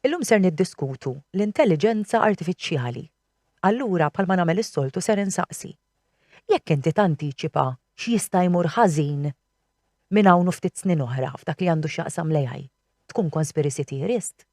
Illum ser niddiskutu l-intelliġenza artifiċjali. Allura bħalma nagħmel is-soltu ser insaqsi, jekk inti tantiċipa x'jista' jmur ħażin minn hawn u ftit snin oħra f'dak li għandu x'jaqsam l-AI, tkun conspiracy theorist?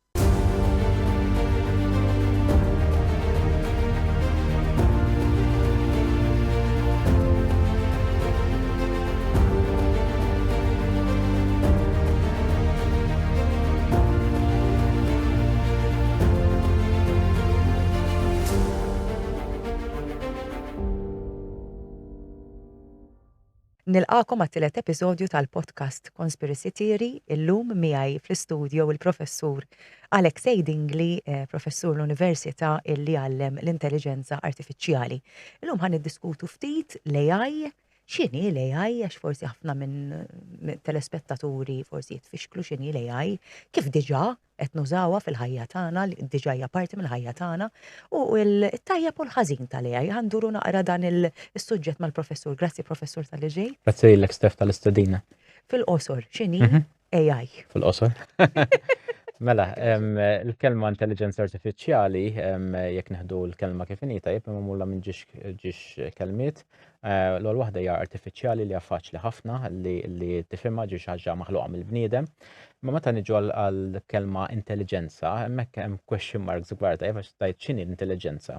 Nilqagħkom għat-tielet episodju tal-podcast Conspiracy Theory, illum miegħi fl-istudju il-professur Alexei Dingli, eh, professur l-Università illi għallem l-Intelligenza Artifiċjali. Illum ħan diskutu ftit l-AI, X'inhi l-AI għax forsi ħafna minn telespettaturi forsi jitfixklu x'inhi l-AI, kif diġà qed nużawha fil-ħajja tagħna, diġà hija parti mill-ħajja tagħna, u t-tajjeb u l-ħażin tal-AI. Ħa nduru naqra dan is-suġġett mal-Professur. Grazzi Professur talli ġejt. Grazzi lilek Steph tal-istedina. Fil-qosor, x'inhi AI. Fil-qosor. Mela, il-kelma intelligenza artifiċjali, jekk neħdu l-kelma kif inhi tajjeb imma mulla minn ġiex kelmiet, eh, l-ewwel waħda hija artifiċjali li faċli ħafna li tifhimha ġiex ħaġa maħluqa mill-bniedem. Ma meta niġu għall-kelma intelligenza, hemmhekk hemm question marks kbar tajjeb għax tajt x'inhi l-intelligenza.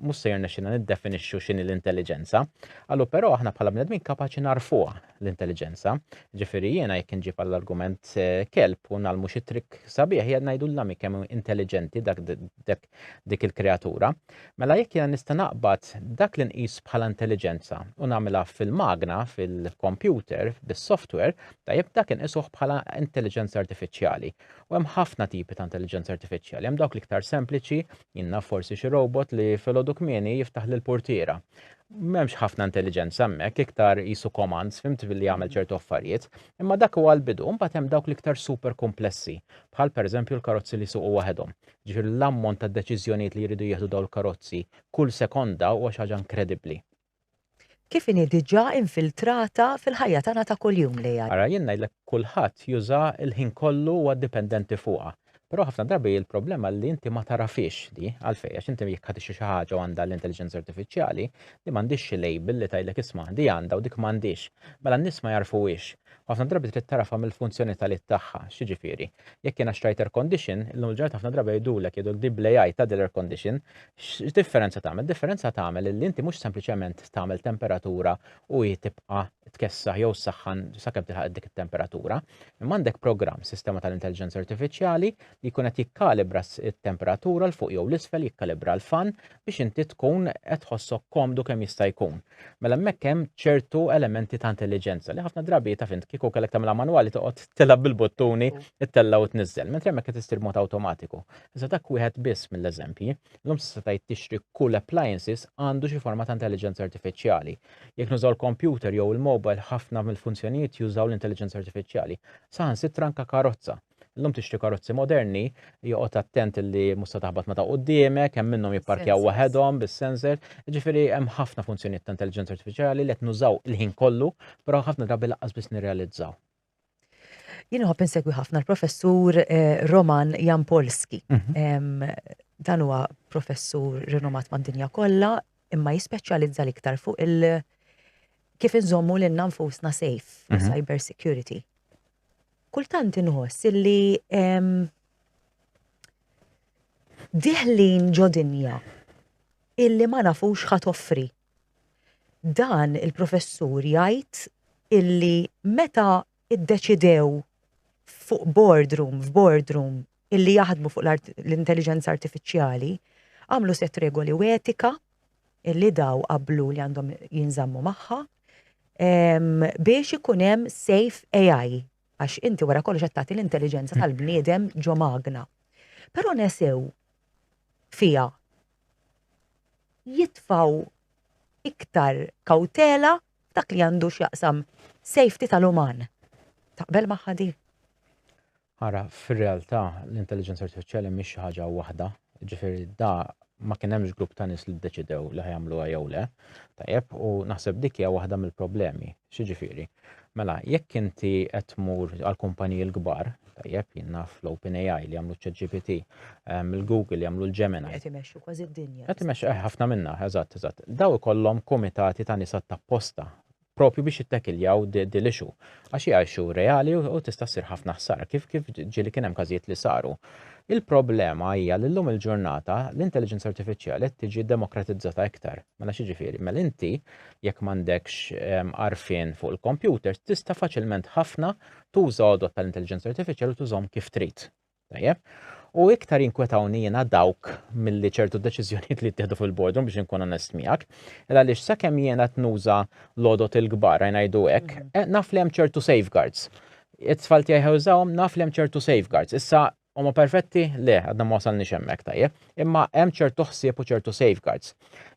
mhux se jirnexxina niddefinixxu x'inhi l-intelliġenza. Allu però aħna bħala bnedmin kapaċi narfuha l-intelliġenza. Ġifieri jiena jekk inġib għall-argument eh, kelb u nagħlmu xi trik sabiħ jgħid ngħidu l-lami kemm intelliġenti dak dik il-kreatura. Mela jekk jiena nista' naqbad dak li nqis bħala intelliġenza u nagħmilha fil-magna, fil-kompjuter, bis-software, tajjeb dak inqisuh bħala intelliġenza artifiċjali. U hemm ħafna tipi ta' intelliġenza artifiċjali, hemm dawk l-iktar sempliċi Jien naf forsi xi robot li filgħodu kmieni jiftaħ li l-purtiera. M'hemmx ħafna intelliġenza hemmhekk, iktar qisu commands, fhimt, billi jagħmel ċertu affarijiet. Imma dak huwa l-bidu, imbagħad hemm dawk l-iktar super kumplessi, bħal pereżempju l-karozzi li jsuqu waħedhom. Jiġifieri l-ammont ta' deċiżjonijiet li jridu jieħdu dawn il-karozzi kull sekonda huwa xi ħaġa inkredibbli. kif inhi diġà infiltrata fil-ħajja tagħna ta' kuljum li għad. Ara jien ngħidlek kulħadd juża l-ħin kollu huwa dipendenti fuqha. Però ħafna drabi l-problema li inti ma tagħrafhiex di. Għalfejn? Għax inti jekk ħa tixtri xi ħaġa u għandha l-intelliġenza artifiċjali, di m'għandhiex xi label li tgħidlek isma' di għandha u dik m'għandhiex. Mela n-nies ma jagħrfuhiex. U ħafna drabi trid tagħrafha mill-funzjonitalit tagħha. X'jiġifieri? Jekk jiena xtrajt air condition, illum il-ġurnata ħafna drabi jgħidulek, jgħidulek di bl-AI tgħaddi l-air condition, X'differenza tagħmel? Differenza tagħmel li inti mhux sempliċement tagħmel temperatura u hi tibqa' tkessaħ jew saħħan sakemm tilħaq dik it-temperatura, imma għandek programm sistema tal-intelligenza artifiċjali li jkun qed jikkalibra t-temperatura l fuq jew l-isfel jikkalibra l-fan biex inti tkun qed tħossok komdu kemm jista' jkun. Mela hemmhekk hemm ċertu elementi ta' intelligenza li ħafna drabi ta' fint kieku kellek tagħmilha manwali toqgħod tilab bil-buttuni, ittella u tniżżel, mentri hemmhekk qed issir mod awtomatiku. Iżda dak wieħed biss mill-eżempji. Illum s'issa tgħid tixtri kull appliances għandu xi forma ta' intelliġenza artifiċjali. Jekk nużaw il-kompjuter jew il-mobile ħafna mill-funzjonijiet jużaw l-intelliġenza artifiċjali. Saħansitra anke karozza. Illum tixtri karozzi moderni, joqgħod attent li mhux se taħbat ma' ta' quddiemek, hemm minnhom jipparkjaw waħedhom bis-sensor, jiġifieri hemm ħafna funzjonijiet ta' intelliġenza artifiċjali li qed nużaw il-ħin kollu, però ħafna drabi lanqas biss nirrealizzaw. Jien nħobb insegwi ħafna l-professur eh, Roman Jampolski. Mhm. Dan huwa professur rinomat mad-dinja kollha, imma jispeċjalizza l-iktar fuq il- kif inżommu l nfusna safe, mhm. cyber security. Kultant inħoss illi diħlin ġodinja illi ma nafux ħat offri Dan il-professur jgħid illi meta ddeċidew fuq boardroom, f'boardroom, illi jaħdmu fuq l-intelliġenza artifiċjali, għamlu sett regoli u etika illi daw qablu li għandhom jinżammu magħha ehm, biex ikun hemm safe AI għax inti wara kollox qed tagħti l-intelliġenza tal-bniedem ġo magna. Però nesew fija jitfgħu iktar kawtela f'dak li għandu x'jaqsam safety tal-uman. Taqbel magħha di? Ara, fir-realtà l-intelligenza artifiċjali mhix xi ħaġa waħda, ġifieri da ma kien hemmx grupp ta' nies li ddeċidew li ħajamluha jew le. Tajjeb, u naħseb dik hija waħda mill-problemi. X'jiġifieri? Mela, jekk inti qed tmur għall-kumpaniji l-kbar, tajjeb, jien naf l-OpenAI li jagħmlu ċ-ChatGPT, ehm, il-Google li jagħmlu l-Gemini. Qed imexxu kważi d-dinja. Qed imexxu eh, ħafna minnha, eżatt, eżatt. Daw ikollhom kumitati ta' nisa tapposta propju biex jittekiljaw dil-ixu. Għax hija ixu reali u tista' ssir ħafna ħsara, kif kif ġieli kien hemm każijiet li saru. Il-problema hija li llum il-ġurnata l-intelligenza artifiċjali qed tiġi demokratizzata iktar. Mela xi ġifieri? Mela inti jekk m'għandekx għarfien fuq il-kompjuters, tista' faċilment ħafna tuża għodod tal-intelliġenza artifiċjali u tużhom kif trid. Tajjeb? U iktar jinkwetawni jiena dawk milli ċertu deċiżjonijiet li jittieħdu fil-boardroom biex inkun onest miegħek, il għaliex sakemm jiena qed nuża l-għodod il-kbar għajn ngħidu hekk, mhm. eh, naf li hemm ċertu safeguards. It-tfal tiegħi ħewżawhom naf li hemm ċertu safeguards. Issa Huma perfetti? Le, għadna ma wasalniex hemmhekk tajjeb. Imma hemm ċertu ħsieb u ċertu safeguards.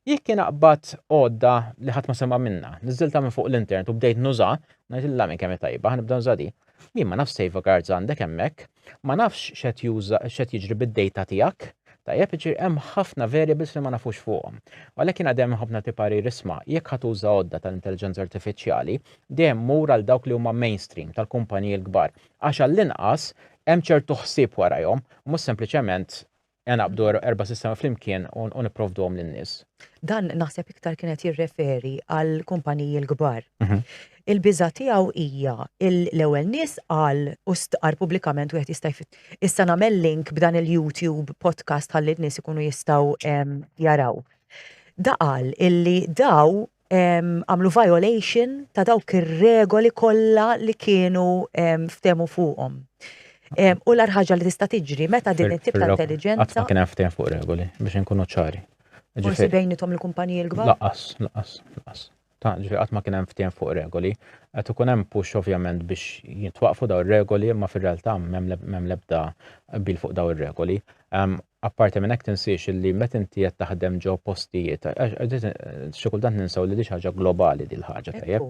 Jekk kien aqbad għodda li ħadd ma sema' minna, niżilta minn fuq l-internet u bdejt nuża, ngħidilha minn kemm tajba, nibda nuża di. Jien ma nafx safeguards għandek hemmhekk, ma nafx x'qed juża x'qed jiġri bid-data tiegħek. Tajjeb, iġir hemm ħafna variables li ma nafux fuqhom. Għalhekk jien għadem ħafna ti parir isma' jekk ħadd uża għodda tal-intelliġenza artifiċjali, dejjem mur għal dawk li huma mainstream tal-kumpaniji l-kbar, Għax għall-inqas hemm ċertu ħsieb warajhom, mhux sempliċement ingħaqqdu erba' sistemi flimkien u nipprovduhom lin-nies. Dan naħseb iktar kien qed jirreferi għall-kumpaniji l-kbar. Il-biża' tiegħu hija l-ewwel nies qal u stqarr pubblikament wieħed jista' issa nagħmel link b'dan il-YouTube podcast ħalli n-nies ikunu jistgħu jaraw. Da qal illi daw għamlu violation ta' dawk ir-regoli kollha li kienu ftemu fuqhom. U l ħaġa li tista' tiġri meta din it-tip ta' intelligenza. Qatt ma kien hemm ftehim fuq regoli biex inkunu ċari. Forsi bejnithom il-kumpaniji l-kbar? Laqas, laqas, laqas. Ta' ġifi qatt ma kien hemm ftehim fuq regoli. Qed ikun hemm push ovvjament biex jitwaqfu daw ir-regoli, ma fir-realtà m'hemm l-ebda bil fuq daw ir-regoli. Apparti minn hekk tinsiex li meta inti qed taħdem ġo postijiet, għax xi kultant ninsew li din xi ħaġa globali din l-ħaġa tajjeb.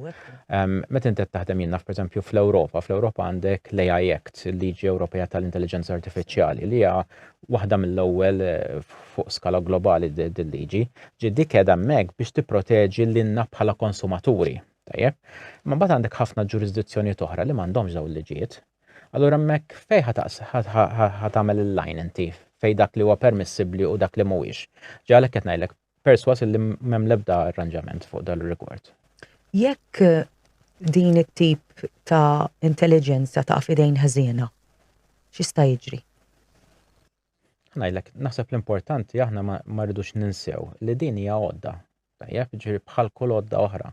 Meta inti qed taħdem jien naf pereżempju fl-Ewropa, fl-Ewropa għandek l-AI Act, il-liġi Ewropea tal-Intelliġenza Artifiċjali, li hija waħda mill-ewwel fuq skala globali din liġi. Ġi dik qiegħda hemmhekk biex tipproteġi lilna bħala konsumaturi. Tajjeb. Imma mbagħad għandek ħafna ġurisdizzjonijiet oħra li m'għandhomx dawn il-liġijiet. Allura hemmhekk fejn ħa tagħmel il-line inti fejn dak li huwa permissibbli u dak li mhuwiex? Ġa għalhekk qed ngħidlek persważ illi m'hemm l-ebda arranġament fuq dan ir-rigward. Jekk din it-tip ta' intelliġenza taqa' f'idejn ħżiena, x'jista' jiġri? Ngħidlek, naħseb l-importanti aħna ma rridux ninsew li din hija għodda. Tajjeb, ġifieri bħal kull għodda oħra.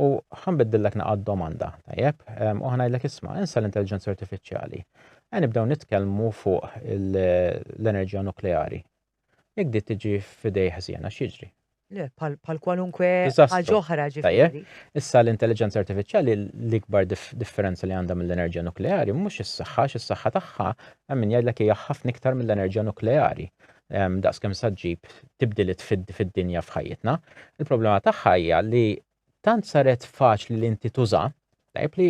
U ħanbiddillek naqgħad domanda, tajjeb, ehm, u ħanajdlek isma' insa l-intelligenza artifiċjali. Għen nibdew nitkellmu fuq l-enerġija nukleari. Jekk di tiġi f'idej ħżiena x'jiġri? Le, pal kwalunkwe ħaġa oħra ġifieri. Issa l-intelligenza artifiċjali l-ikbar differenza li għandha mill-enerġija nukleari mhux is-saħħa, is-saħħa tagħha hemm min jgħidlek hija ħafna iktar mill-enerġija nukleari. daqs kemm sa ġġib tibdiliet fid-dinja f'ħajjitna. Il-problema tagħha hija li tant saret faċli li inti tuża, tajb li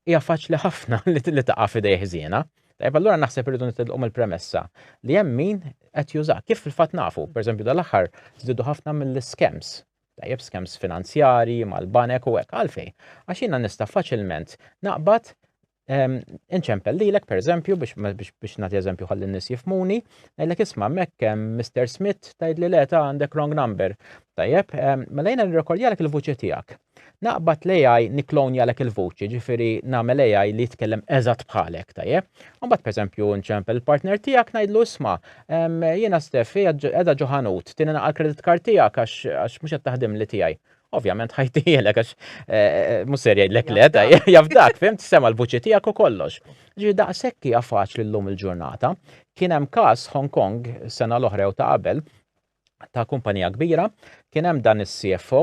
hija faċli ħafna li taqa' f'idej ħżiena. Tajb allura naħseb irridu nitilqu mill-premessa li hemm min qed juża. Kif fil-fatt nafu, pereżempju dal-aħħar żdiedu ħafna mill-skems. Tajjeb skems finanzjari, mal-banek u hekk għalfej. Għax jiena nista' faċilment naqbad Ehm, inċempel lilek per eżempju, biex nagħti eżempju ħalli n-nies jifmuni, ngħidlek isma' hemmhekk ehm, Mr. Smith tgħidli le ta' għandek wrong number. Tajjeb, ehm, mela jiena nirrekordjalek il-vuċi tiegħek. Naqbad l-AI niklonjalek il-vuċi, ġifieri nagħmel AI li jitkellem eżatt bħalek, tajjeb. Mbagħad pereżempju nċempel il-partner tiegħek ngħidlu isma' jiena Steffi qiegħda ġo ħanut, tieni naqal credit card tiegħek għax mhux qed taħdim li tiegħi. Ovvjament ħajtielek għax eh, eh, mhux ser jgħidlek le, ta' jafdak, fimt sema l-vuċi tiegħek u kollox. Ġi daqshekk hija faċli llum il-ġurnata. Kien hemm każ Hong Kong sena l-oħra u ta' qabel ta' kumpanija kbira, kien hemm dan is-CFO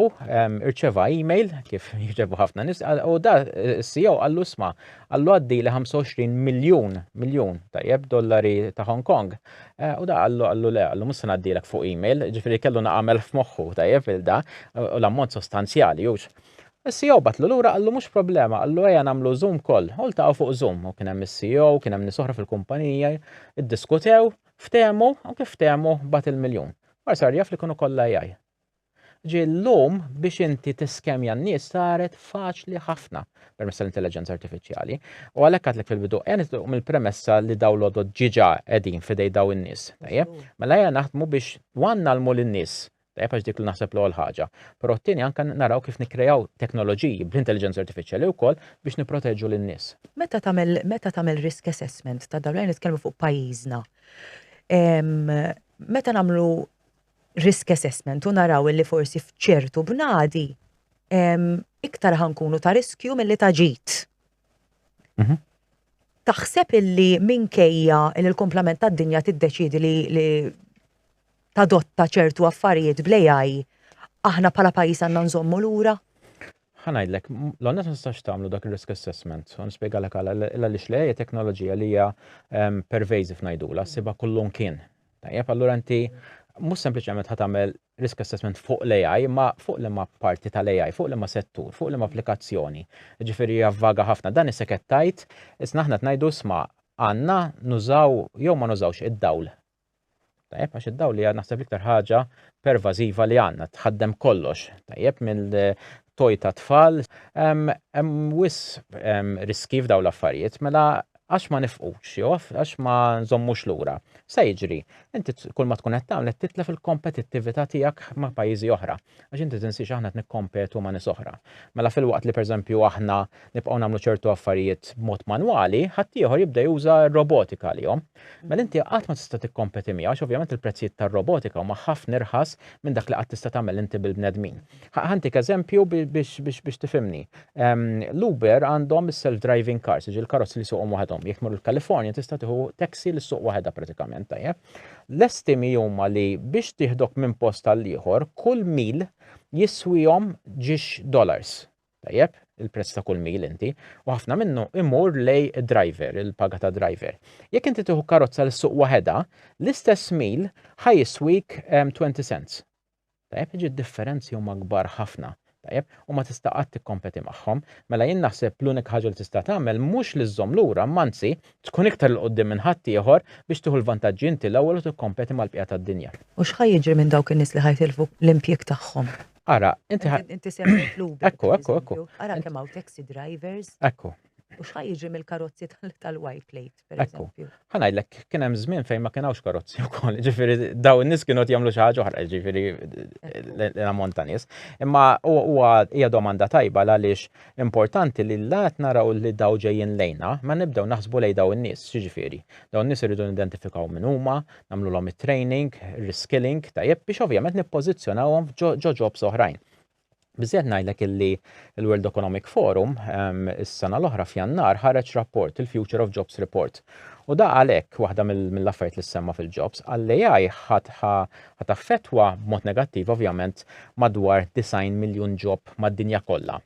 irċeva email kif jirċevu ħafna nis, u da is-CEO għallu sma, għallu għaddi li 25 miljun miljun tajjeb dollari ta' Hong Kong U da qallu qallu le, qallu mhux se ngħaddilek fuq email, ġifieri kellu nagħmel f'moħħu tajjeb il da u l-ammont sostanzjali hux. Is-CEO bagħatlu lura qallu mhux problema, qallu ejja nagħmlu Zoom call u ltaqgħu fuq Zoom u kien hemm is-CEO u kien hemm nies oħra fil-kumpanija, iddiskutew, ftehmu u kif ftehmu bagħat il-miljun. Mar sar jaf li kienu kollha AI. Ġie llum biex inti tiskemja n-nies saret faċli ħafna permezz tal-intelliġenza artifiċjali. U għalhekk għadlek fil-bidu ejja nitilqu mill-premessa li dawn l-għodod ġiġa qegħdin f'idej daw in-nies. Tajjeb? Mela ejja naħdmu biex one nagħlmu lin-nies, tajjeb għax dik li naħseb l-ewwel ħaġa, però t-tieni anke naraw kif nikkreaw teknoloġiji bl-intelliġenza artifiċjali wkoll biex nipproteġu lin-nies. Meta tagħmel meta tagħmel risk assessment ta' dawn, ejja nitkellmu fuq pajjiżna, meta nagħmlu risk assessment u naraw illi forsi f'ċertu bnadi iktar ħankunu ta' riskju mill-li ta' ġit. Mhm. Taħseb illi minkejja il l-komplement tad dinja tiddeċidi li tadotta ċertu affarijiet blejaj, aħna pala pajis għanna nżommu l-ura? ħanajdlek, l-għonna t-nistax tamlu dak il-risk assessment, għan spiega l għala, l-għalix li teknoloġija li hija pervasive najdula, siba kullum kien, Tajjeb, allura inti mhux sempliċement ħa tagħmel risk assessment fuq l-AI, ma fuq li ma parti tal-AI, fuq li ma settur, fuq li ma applikazzjoni. Ġifieri javvaga ħafna dan is-seket tajt, isna aħna tnajdu sma għandna nużaw jew ma nużawx id-dawl. Tajjeb, għax id-dawl hija naħseb iktar ħaġa pervażiva li għandna tħaddem kollox. Tajjeb, minn toj ta' tfal, hemm wis riski f'daw l-affarijiet, mela għax ma nifqux jew għax ma nżommux lura. Sa jiġri, inti kull ma tkun qed tagħmel qed titlef il-kompetittività tiegħek ma' pajjiżi oħra, għax inti tinsiex aħna qed nikkompetu ma' nies oħra. Mela filwaqt li pereżempju aħna nibqgħu nagħmlu ċertu affarijiet b'mod manwali, ħaddieħor jibda juża r-robotika għalihom. Mela inti qatt ma tista' tikkompeti miegħu għax ovvjament il-prezzijiet tar-robotika huma ħafna irħas minn dak li qatt tista' tagħmel inti bil-bnedmin. Ħantik eżempju biex tifimni. L-Uber għandhom self-driving cars, ġi l-karozzi li suqhom waħedhom. Jekk mur il-Kalifornja tista' tieħu taxi li suq waħedha pratikament tajjeb. L-estimi huma li biex tieħdok minn post għal ieħor kull mil jiswihom ġiex dollars. Tajjeb, il-prezz ta' kull mil inti, u ħafna minnu imur lej driver, il-paga ta' driver. Jekk inti tieħu karozza li suq waħedha, l-istess mil ħajiswik 20 cents Tajjeb, jiġri d-differenzi huma kbar ħafna, tajjeb, u ma tista' qatt tikkompeti magħhom. Mela jien naħseb l-unika ħaġa li tista' tagħmel mhux li żżomm lura, imma anzi, tkun iktar 'l quddiem minn ħaddieħor biex tieħu l-vantaġġi inti l-ewwel u tikkompeti mal-bqija tad-dinja. U x'ħa jiġri minn dawk in-nies li ħa jitilfu l-impjieg tagħhom? Ara, inti ħa. Inti semmejt l-Uber. Ekku, ekku, ekku. Ara kemm hawn taxi drivers. Ekku. U x'ħa jiġri mill-karozzi tal-white plate, per eżempju? Ħa ngħidlek, kien hemm żmien fejn ma kien hawnx karozzi wkoll, ġifieri daw in-nies kienu qed jagħmlu xi ħaġa oħra, ġifieri l-ammont ta' nies. Imma huwa hija domanda tajba għaliex importanti li la qed naraw li daw ġejjin lejna, ma nibdew naħsbu lejn daw in-nies, ġifieri. Daw in-nies iridu nidentifikaw min huma, nagħmlulhom it-training, reskilling, tajjeb biex ovvjament nippożizzjonawhom ġo ġobs oħrajn. Biżżejjed ngħidlek illi l-World Economic Forum is-sena l-oħra f'Jannar ħareġ rapport il-Future of Jobs Report. U da għalhekk waħda mill-affarijiet li semma fil-jobs għall-AI ħat affettwa b'mod negattiv ovvjament madwar 90 miljun ġob mad-dinja kollha.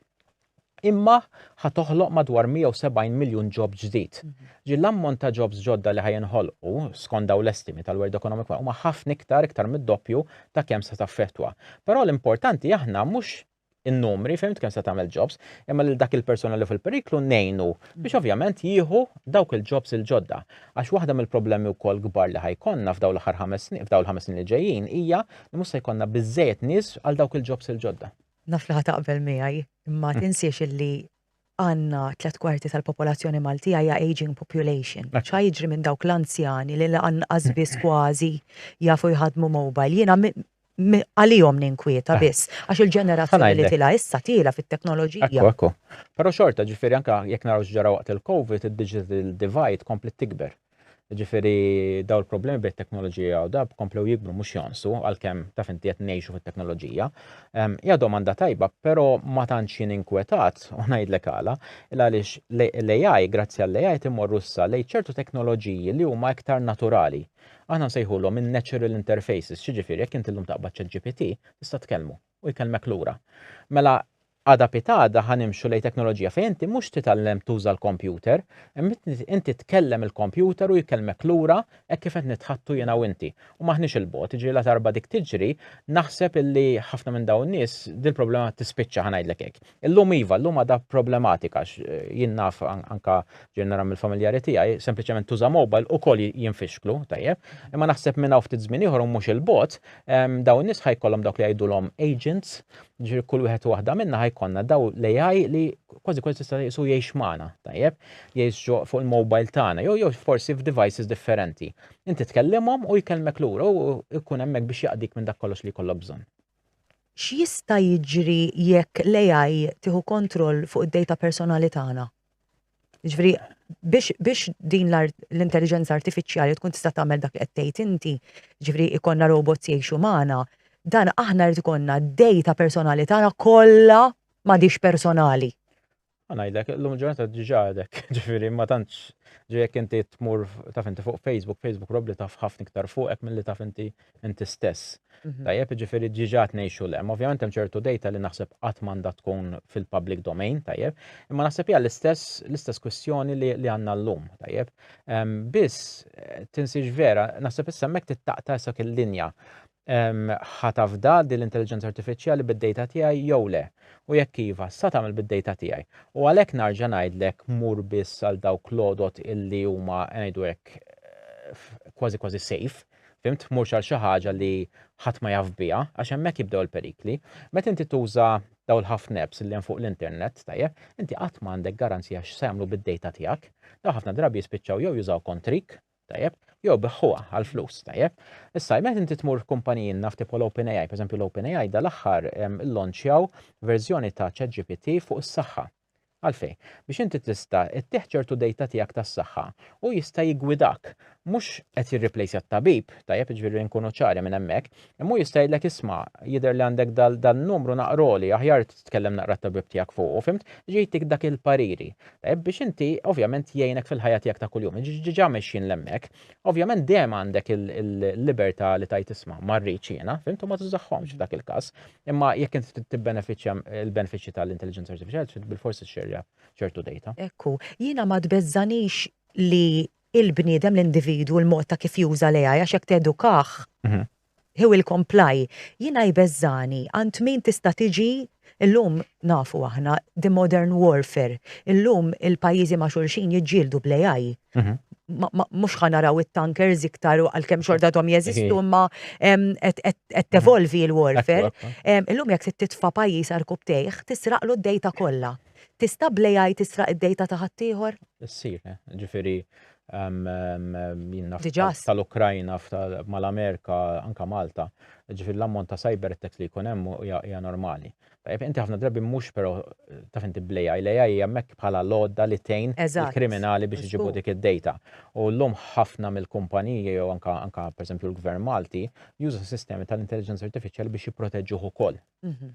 imma ħa toħloq madwar 170 miljun ġob ġdid. Ġi l-ammont ta' ġobs ġodda li ħa jinħolqu, skont daw l-estimi tal-World Economic Forum, huma ħafna iktar, iktar mid-doppju ta' kemm se taffettwa. Però l-importanti aħna mhux in-numri, fhimt, kemm se tagħmel ġobs, imma lil dak il-persuna li hu fil-periklu ngħinu biex ovvjament jieħu dawk il-ġobs il-ġodda. Għax waħda mill-problemi wkoll kbar li ħa jkollna f'dawn l-aħħar ħames snin, f'dawn il-ħames snin li ġejjin hija li mhux se jkollna biżżejjed nies għal dawk il-ġobs il-ġodda. Naf li ħataqbel miegħi, imma hmm. tinsiex illi għanna tlet kwarti tal-popolazzjoni Maltija hija aging population. ċa jiġri minn dawk l-anzjani li lanqas biss kważi jafu jħadmu mobile. Jiena għalihom ninkwieta eh. biss, għax il-ġenerazzjoni li tila issa tila fit-teknoloġija. Ekku, ekku. Pero xorta ġifiri anka jek naraw ġara waqt il-Covid, il-digital divide komplet tikber. Ġifiri, daw il-problemi bejn teknoloġija u dab komplew jikbru mhux jonsu għalkemm taf inti qed ngħixu fit-teknoloġija. Ehm, ja domanda tajba, però ma tantx jien inkwetat u ngħidlek għala, il għaliex l-AI, grazzi għall-AI timorru issa lejn ċertu teknoloġiji li huma iktar naturali. Aħna nsejħulhom in-natural interfaces, xiġifieri jekk inti llum taqbad ċet GPT, tista' tkellmu. u jkellmek lura. Mela għada pitgħada ħa nimxu lejn teknoloġija fejn inti mhux titgħallem tuża l-kompjuter, imma inti tkellem il-kompjuter u jkellmek lura hekk kif qed nitħaddtu jiena u inti. U m'aħniex 'il bogħod, jiġifieri ladarba dik tiġri, naħseb illi ħafna minn dawn in-nies dil-problema tispiċċa, ħa ngħidlek hekk. Illum iva, llum għadha problematika għax jien naf anka ġej nara mill-familjari tiegħi, sempliċement tuża mobile ukoll jinfixklu, tajjeb. Imma naħseb minn hawn ftit żmien ieħor u mhux il-bot, dawn in-nies ħajkollhom dawk li jgħidulhom agents, ġifieri kull wieħed u waħda minna ħajkollna daw l-AI li kważi kważi tista' jisu jgħix magħna, tajjeb, jgħix fuq il-mobile tagħna, jew jew forsi f'devices differenti. Inti tkellimhom u jkellmek lura u jkun hemmhekk biex jaqdik minn dak kollox li jkollok bżonn. X'jista' jiġri jekk l-AI tieħu kontroll fuq id-dejta personali tagħna? Jiġifieri biex biex din l-intelliġenza artifiċjali tkun tista' tagħmel dak li qed tgħid inti, jiġifieri ikollna robots jgħixu magħna, dan aħna rrid ikollna d-dejta personali tagħna kollha m'għadhiex personali. Għanajdlek, l-lum ġurnata diġa għadek, ġifiri, ma tantx ġejek inti tmur taf inti fuq Facebook, Facebook probabli taf ħafna iktar fuqek mill-li taf inti inti stess. Mhm. Tajjeb, ġifiri diġa tnejxu l Ovvijament hemm ċertu data li naħseb qatt m'għandha tkun fil-public domain, tajjeb, imma naħseb hija l-istess l-istess kwestjoni li għandna llum, tajjeb. Biss tinsiex vera, naħseb issa hemmhekk tittaqta issa il-linja Ħa tafda din l-intelliġenza artifiċjali bid-dejta tiegħi jew le? U jekk iva, x'sa tagħmel bid-dejta tiegħi? U għalhekk narġa' ngħidlek mur biss għal dawk l-għodod illi huma, ngħidu hekk, kważi kważi safe, fhimt, murx għal xi ħaġa li ħadd ma jaf biha, għax hemmhekk jibdew il-perikli. Meta inti tuża dawn il-ħafna apps illi hemm fuq l-internet, tajjeb, inti qatt m'għandek garanzija x'sa jagħmlu bid-dejta tiegħek. Dawn ħafna drabi jispiċċaw jew jużaw kontrik, Tajjeb? Jew biħħuha għal flus, tajjeb? Issa, meta inti tmur f'kumpaniji naf tipo l-OpenAI, pereżempju l-OpenAI dal-aħħar illonċjaw verżjoni ta' ChatGPT fuq is-saħħa. Għalfejn? Biex inti tista' ttieħ ċertu dejta tiegħek tas-saħħa u jista' jiggwidak. Mhux qed jirriplejsja t-tabib, tajjeb, jiġifieri nkunu ċari minn hemmhekk, imma hu jista' jgħidlek isma' jidher li għandek dan-numru naqroli, aħjar titkellem naqra t-tabib tiegħek fuqu, fimt? Jiġi jtik dak il-pariri. Tajjeb biex inti ovvjament jgħinek fil-ħajja tiegħek ta' kuljum. Jiġi ġiġa mexjin l-hemmhekk. Ovvjament dejjem għandek il-libertà li tajt isma' ma rridx jiena, fimt u ma tużaħħomx f'dak il-każ. Imma jekk inti trid tibbenefiċċja l-benefiċċji tal-intelliġenza artifiċjali trid bilfors ixxerja ċertu dejta. Ekku, jiena ma tbeżżanix li il-bniedem, l-individwu, l-mod ta' kif juża l-AI għax jekk tedukah, Hill comply, Jiena jbeżżagħni għand min tista' tiġi, illum nafu aħna, the modern warfare, illum il-pajjiżi ma' xulxin jiġġieldu bl-AI. Mhux ħa naraw it-tankers iktar u għalkemm xorta għadhom jeżistu imma qed tevolvi l-warfare. Illum jekk trid titfa' pajjiż għarku b'tejħ, tisraqlu d-data kollha. Tista' bl-AI tisraq id-data ta' ħaddieħor? Issir, ġifieri Jien naf tal-Ukrajna, mal-Amerika, anke Malta. Ġifieri l-ammont ta' cyber attacks li jkun hemm hija normali. Inti ħafna drabi mhux però taf inti bl-AI. L-AI hija hemmhekk bħala l-għodda li tgħin il-kriminali biex iġibu dik id-data. U llum ħafna mill-kumpaniji jew anke pereżempju l-Gvern Malti juża sistemi tal-intelliġenza artifiċjali biex jipproteġuh ukoll.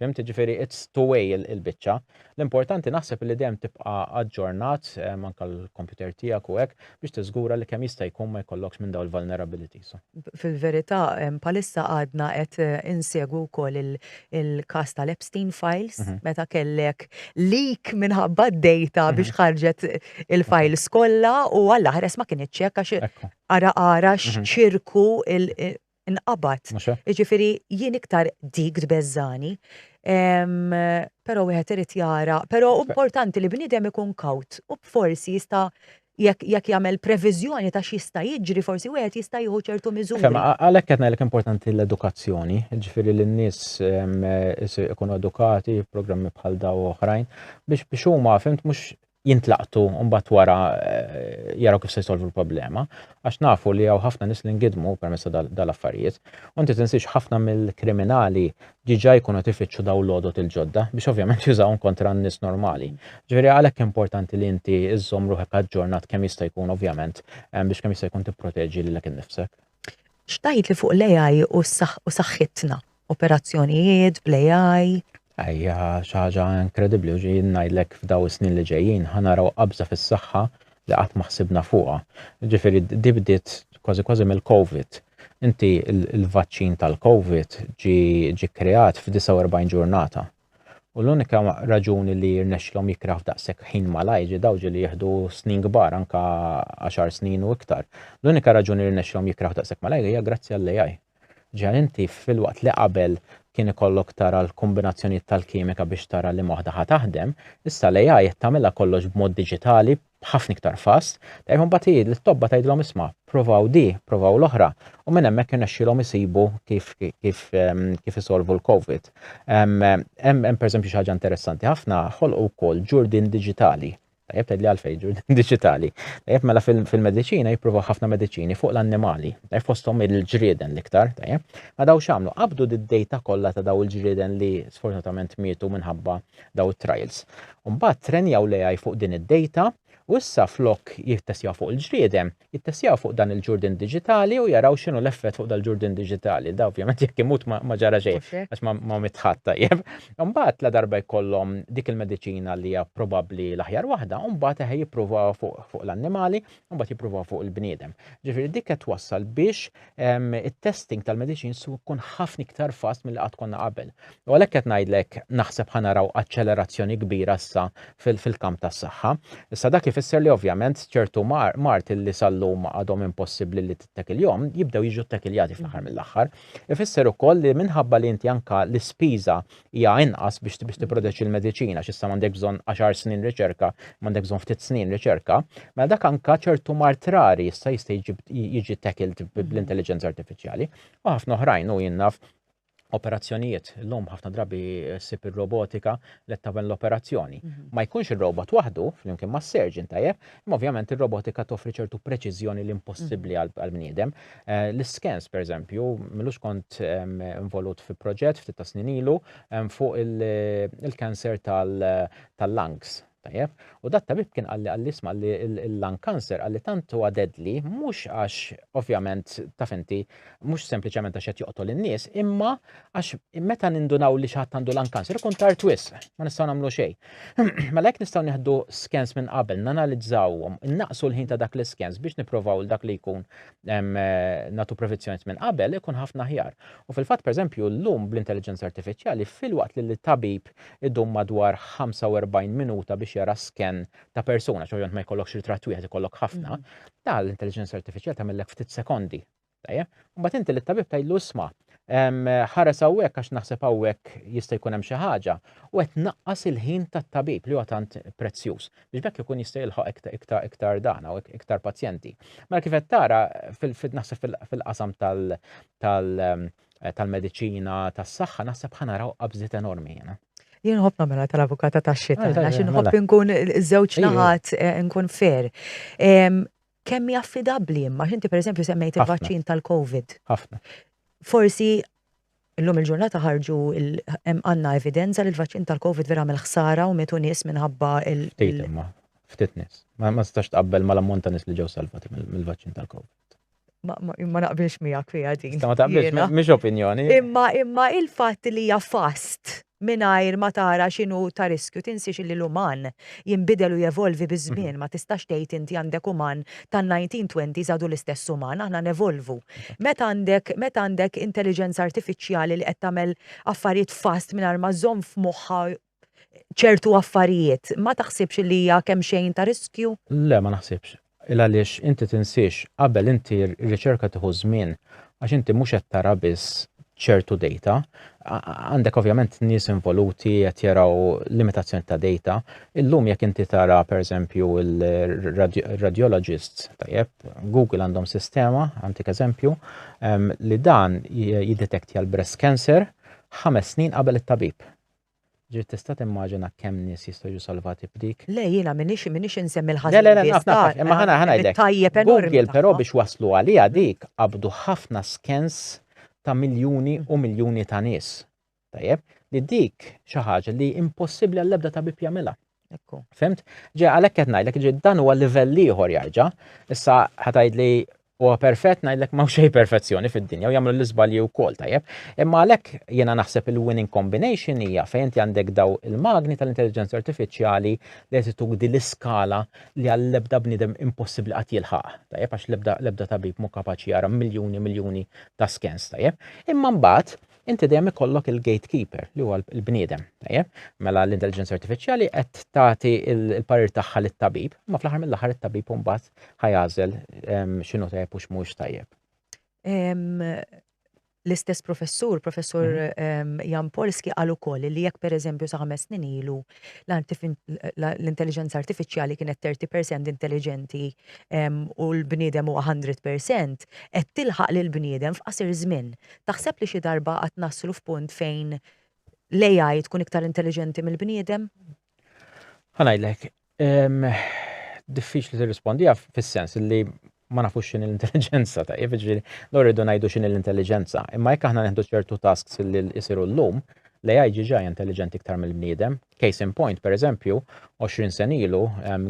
Fimti ġifiri, it's two way il-bicċa. L-importanti naħseb li dem tibqa aġġornat eh, manka l-computer tijak u għek biex tiżgura li kem jista jkun ma jkollokx minn daw il-vulnerabilities. Fil-verita, palissa għadna għet eh, insegwu kol il-kas tal-Epstein Files, mhm. meta kellek leak minħabba d-data mhm. biex ħarġet il-files kolla u għalla ħres ma kien iċċek għax għara għara mhm. xċirku inqabad. Jiġifieri jien iktar dik tbeżżagħni. Però wieħed irid jara, però importanti li bniedem ikun kawt u forsi jista' jekk jagħmel previżjoni ta' x'jista' jiġri forsi wieħed jista' jieħu ċertu miżuri. Għalhekk qed ngħidlek importanti l-edukazzjoni, jiġifieri li n-nies ikunu edukati, programmi bħal daw oħrajn, biex biex huma fimt mhux jintlaqtu mbagħad wara jaraw kif se jsolvu l-problema, għax nafu li hawn ħafna nies li ngidmu permezz dal-affarijiet. U inti tinsiex ħafna mill-kriminali ġiġa jkunu tifittxu daw l-għodot il-ġodda biex ovvjament jużawhom kontra n-nies normali. Ġifieri għalhekk importanti li inti iżżomm ruħek aġġornat kemm jista' jkun ovvjament biex kemm jista' jkun tipproteġi lilek innifsek. X'tgħidli fuq l-AI u saħħitna? operazzjonijiet bl-AI. Hija xi ħaġa inkredibbli u ġejjin ngħidlek f'daw is-snin li ġejjin ħa naraw qabża fis-saħħa li qatt ma ħsibna fuqha. Ġifieri di bdiet kważi kważi mill-Covid. Inti l-vaċċin tal-Covid ġie kreat f'49 ġurnata. U l-unika raġuni li rnexxilhom jikkreaw f'daqshekk ħin malajr ġi daw ġieli jieħdu snin kbar anke għaxar snin u iktar. L-unika raġuni li rnexxilhom jikkreaw daqshekk malajr hija grazzi għall-AI. Ġa inti, filwaqt li qabel kien ikollok tara l-kombinazzjonijiet tal-kimika biex tara liema waħda ħa taħdem, issa l-AI qed tagħmilha kollox b'mod diġitali, b'ħafna iktar fast. Tgħid u mbagħad hi lit-tobba tgħidilhom isma', provaw di, provaw l-oħra, u minn hemmhekk irnexxielhom isibu kif kif kif isolvu l-Covid. Hemm hemm pereżempju xi ħaġa interessanti ħafna, ħolqu wkoll ġurdien diġitali. Tajjeb tgħidli għalfejn ġu diġitali. Tajjeb mela fil-mediċina jippruvaw ħafna mediċini fuq l-annimali, tajjeb fosthom il-ġrieden l-iktar, tajjeb. Ma daw x'għamlu? Qabdu d-dejta kollha ta' daw il-ġrieden li sfortunatament mietu minħabba daw it-trials. Mbagħad trenjaw l-AI fuq din id-dejta u issa flok jittestjaw fuq il-ġrieden, jittestjaw fuq dan il-ġurdien diġitali u jaraw x'inhu l-effett fuq dal-ġurdien diġitali. Da ovvjament jekk imut ma ġara xejn għax ma mitt ħadd tajjeb. Imbagħad ladarba jkollhom dik il-mediċina li hija probabbli l-aħjar waħda, imbagħad eħe jippruvawha fuq l-annimali, imbagħad jippruvawha fuq il-bniedem. Ġifieri dik qed twassal biex it-testing tal-medicines su kun ħafna iktar fast mill qatt konna qabel. U għalhekk qed ngħidlek naħseb ħanaraw aċċelerazzjoni kbira issa fil-kamp tas-saħħa. Issa dak ifisser li ovvjament ċertu mart li sal-lum għadhom impossibbli li tittekiljhom jibdew jiġu ttekiljati fl-aħħar mill-aħħar. Ifisser ukoll li minħabba li inti anka l-ispiża hija inqas biex biex tipproteġi l-mediċina għax issa m'għandek bżonn 10 snin riċerka, m'għandek bżonn ftit snin riċerka, mela dak anka ċertu mart rari issa jista' jiġi tackled bl-intelligenza artifiċjali u ħafna oħrajn u jinnaf operazzjonijiet l-lum ħafna drabi sib ir-robotika li tamen l-operazzjoni. Mhm. Ma jkunx ir-robot waħdu flimkien ma' surgeon tajjeb, Imma ovvjament ir-robotika toffri ċertu preċiżjoni li impossibbli għall-bniedem. Eh, l-iskens, per eżempju, millux kont ehm, involut fi proġett ftit ta' snin ilu ehm, fuq il-kanser tal-lungs Tajjeb, u dat tabib kien għalli għalli isma li l-lung cancer għalli tantu għadedli, mux għax ovvjament taf inti Mhux sempliċement għax qed joqtol in-nies, imma għax meta nindunaw li xi ħadd għandu lan kanser ikun tar twis, ma nistgħu nagħmlu xejn. Mela hekk nistgħu nieħdu skens minn qabel, nanalizzawhom, innaqsu l-ħin ta' dak l-iskens biex nipprovaw l dak li jkun nagħtu prevenzjoni minn qabel ikun ħafna ħjar. U fil-fatt pereżempju llum bl-intelligenza artifiċjali filwaqt li l-tabib idum madwar 45 minuta biex jara sken ta' persuna, ċoħjont ma jkollokx ritratt wieħed jkollok ħafna, mm. ta' l-intelligenza artificial tagħmellek ftit sekondi. Tajja? Mbagħad inti l-tabib tgħidlu isma' ħares hawnhekk għax naħseb hawnhekk jista' jkun hemm xi ħaġa u qed naqqas il-ħin tat-tabib li huwa tant prezzjuż biex bekk ikun jista' jilħaq iktar iktar dana u iktar pazjenti. Mela kif qed tara naħseb fil-qasam tal- tal- tal-medicina, tas-saħħa, naħseb ħanaraw qabżiet enormi jena. Jien ħobb namela tal-avukata ta' xita, għax nħobb mela. nkun żewġ naħat eh, nkun fair. Kemm hija affidabbli imma x'inti pereżempju semmejt il-vaċċin tal-COVID. Ħafna. Forsi Illum il-ġurnata ħarġu għanna evidenza li l-vaċċin tal-Covid vera mill ħsara u metu nies minħabba il- Ftit imma, ftit nies. Ma stax tqabbel ma l-ammont ta' nies li ġew salvati mill-vaċċin tal-Covid. ma naqbilx miegħek fiha din. Ma taqbilx, mhix opinjoni. Imma imma il-fatt li hija fast mingħajr ma tara x'inhu ta' riskju tinsiex li l-uman jinbidel u jevolvi biż-żmien mhm. ma tistax tgħid inti għandek uman tan-1920 żadu l-istess uman aħna nevolvu. Mhm. Meta għandek meta għandek intelligenza artifiċjali li qed tagħmel affarijiet fast mingħajr ma żomm f'moħħha ċertu affarijiet, ma taħsibx li hija kemm xejn ta' riskju? Le, ma naħsibx. Il għaliex inti tinsiex, qabel inti r-riċerka tieħu żmien għax inti mhux qed tara biss ċertu dejta. Għandek ovvjament nies involuti qed jaraw limitazzjoni ta' dejta. Illum jekk inti tara pereżempju il-radiologists, tajjeb, Google għandhom sistema, għantik eżempju, ehm, li dan jiddetektja l-breast cancer ħames snin qabel it-tabib. Ġifieri tista' timmaġina kemm nies jistgħu jiġu salvati b'dik? Le, jiena m'iniex m'iniex insemmi l-ħażin biss. Le, le, le, naf, naf, naf, imma ħa ngħidlek. Google però biex waslu għaliha dik qabdu ħafna skens ta' miljuni u miljuni ta' nies. Tajjeb? Li dik xi ħaġa li impossibbli għall-ebda tabib jagħmilha. Fimt? Ġe, għalek qed ngħidlek, ġe, dan huwa livell ieħor jarġa'. Issa ħatajd li huwa perfett ngħidlek ma' xejn perfezzjoni fid-dinja u jagħmlu l-iżbalji wkoll tajjeb. Imma għalhekk jiena naħseb il-winning combination hija fejn inti għandek daw il-magni tal-intelligenza artifiċjali li qed ituk din l-iskala li għall-ebda bniedem impossibbli qatt jilħaq. Tajjeb għax l-ebda tabib mhu kapaċi jara miljuni miljuni ta' skens tajjeb. Imma mbagħad inti dejjem ikollok il-gatekeeper li huwa l-bniedem, tajjeb? Mela l-intelligenza artifiċjali qed tagħti l-parir tagħha lit-tabib, ma fl-aħħar mill-aħħar it-tabib mbagħad ħajażel ehm, x'inhu tajjeb u x'mhux tajjeb. Ehm, l-istess professur, professur mhm. ehm, Jan Polski, għal ukoll li jekk per eżempju sa' ħames snin ilu l-intelligenza artifiċjali kienet 30% intelligenti ehm, u l-bniedem huwa 100% qed tilħaq lil bniedem f'qasir żmien. Taħseb li xi darba qatt naslu f'punt fejn l-AI tkun iktar intelliġenti mill-bniedem? Ħa ngħidlek, diffiċli tirrispondiha fis-sens li ma nafux x'in l-intelliġenza ta' jiġifieri dawn irridu ngħidu x'in l-intelliġenza. Imma jekk aħna nieħdu ċertu tasks li jsiru llum, l-AI ġiġa hija intelliġenti iktar mill-bniedem. Case in point, pereżempju, 20 sen ilu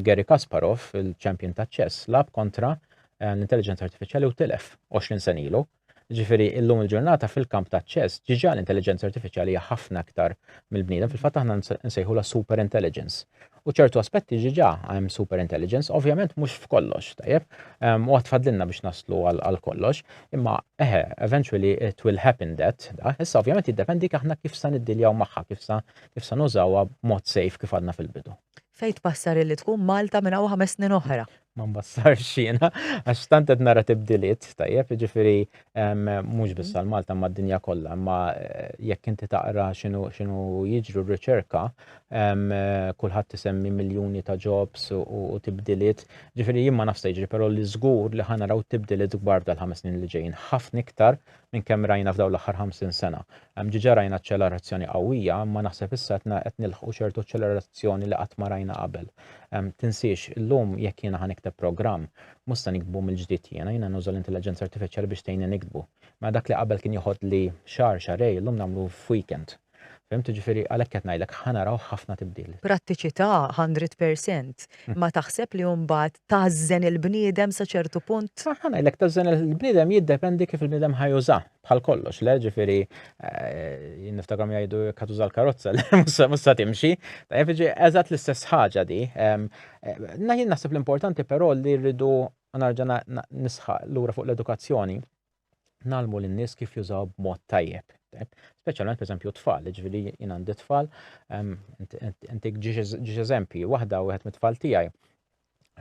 Garry Kasparov, il-champion taċ-ċess, lab kontra l-intelliġenza artifiċjali u tilef 20 sen ilu. Ġifieri illum il-ġurnata fil-kamp ta' ċess ġiġa l-intelliġenza artifiċjali hija ħafna aktar mill-bniedem, fil-fatt aħna nsejħulha super intelligence. U ċertu aspetti ġiġa hemm super intelligence, ovvjament mhux f'kollox, tajjeb, u għad fadlilna biex naslu għal kollox, imma eħe, eventually it will happen that, da, issa ovvjament jiddependi aħna kif sa niddiljaw magħha, kif sa kif sa nużawha b'mod safe kif għadna fil-bidu. Fejn tbassar illi tkun Malta minn hawn ħames snin oħra? ma nbassarx jiena, għax tant qed nara tibdiliet, tajjeb, ġifiri mhux biss għal Malta ma d-dinja kollha, imma eh, jekk inti taqra x'inhu jiġru r-riċerka, kulħadd isemmi miljuni ta' jobs u tibdiliet, ġifiri jien ma nafx jiġri, però li żgur li ħanaraw tibdiliet kbar dal-ħames snin li ġejjin, ħafna iktar minn kemm rajna f'dawn l-aħħar 50 sena. Diġà rajna aċċelerazzjoni qawwija, imma naħseb issa qed nilħqu ċertu aċċelerazzjoni li qatt ma rajna qabel. Tinsiex, illum jekk jiena ħa nikteb programm, mhux se niktbu mill-ġdid jiena, jiena nuża l-intelliġenza artifiċjali biex tgħinni niktbu. Mela dak li qabel kien joħodli xahar, xahrejn, illum nagħmlu f'weekend. Fhimt, jiġifieri għalhekk qed ngħidlek ħa naraw ħafna tibdil. Prattiċità hundred percent. Ma taħseb li mbagħad tażżen il-bniedem sa ċertu punt? Ħa ngħidlek tażżen il-bniedem jiddependi kif il-bniedem ħa juża bħal kollox, le ġifieri eh, niftakrom jgħidu jekk tuża l-karozza le mhux sa timxi. Tajjeb ġi eżatt l-istess ħaġa di. Eh, Naħin naħseb l-importanti però li rridu narġa' nisħaq lura fuq l-edukazzjoni. nalmu lin-nies kif jużaw b'mod tajjeb. Speċjalment pereżempju tfal, ġifieri jien għandi tfal, intik ġiex eżempji, waħda wieħed mit-tfal tiegħi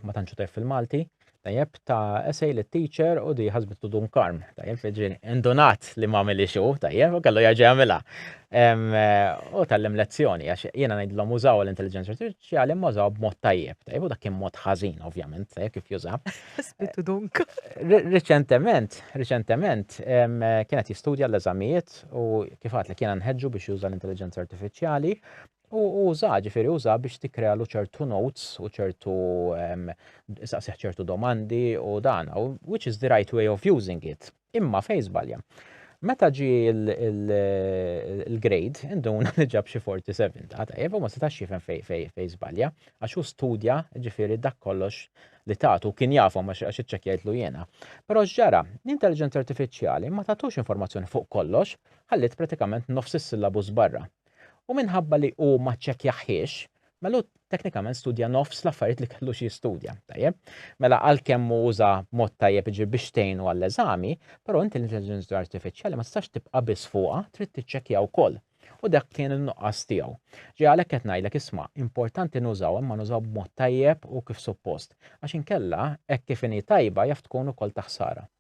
ma tantx tajf fil-Malti, tajjeb ta' esej li teacher u di ħasbit dun karm, tajjeb feġin indunat li ma' mili xu, tajjeb, u kellu jaġi għamila. U tal-lem lezzjoni, għax jena najdlom użaw l-intelligenza xi għalim mażaw b'mod tajjeb, tajjeb u dak kien mod ħażin ovvjament, tajjeb kif juża. Spittu eh, dunk. Riċentement, riċentement kienet jistudja l-eżamijiet u kif għat li kien nħeġġu biex juża l-intelligenza artifiċjali u uża ġifieri uża biex tikkrealu ċertu notes u ċertu saqsiħ ċertu domandi u dan, which is the right way of using it. Imma fejn żbalja? Meta ġie l-grade, induna li ġab xi 47, ta' tajjeb, u ma setax jifhem fejn żbalja, għax hu studja, ġifieri dak kollox li tagħtu kien jafhom għax iċċekkjajtlu jiena. Però x'ġara? L-intelliġenza artifiċjali ma tagħtux informazzjoni fuq kollox, ħalliet pratikament nofs is-syllabus barra. U minħabba li hu ma ċċekkjahiex, Mela hu teknikament studja nofs l-affarijiet li kellux jistudja, tajjeb? Mela għalkemm hu uża mod tajjeb jiġifieri biex tgħinu għall-eżami, però inti l-intelliġenza artifiċjali ma tistax tibqa' biss fuqha, trid tiċċekkja wkoll. U dak kien in-nuqqas tiegħu. Ġej għalhekk qed ngħidlek isma', importanti nużaw imma nużaw b'mod tajjeb u kif suppost, għax inkella hekk kif inhi tajba jaf tkun ukoll ta' ħsara.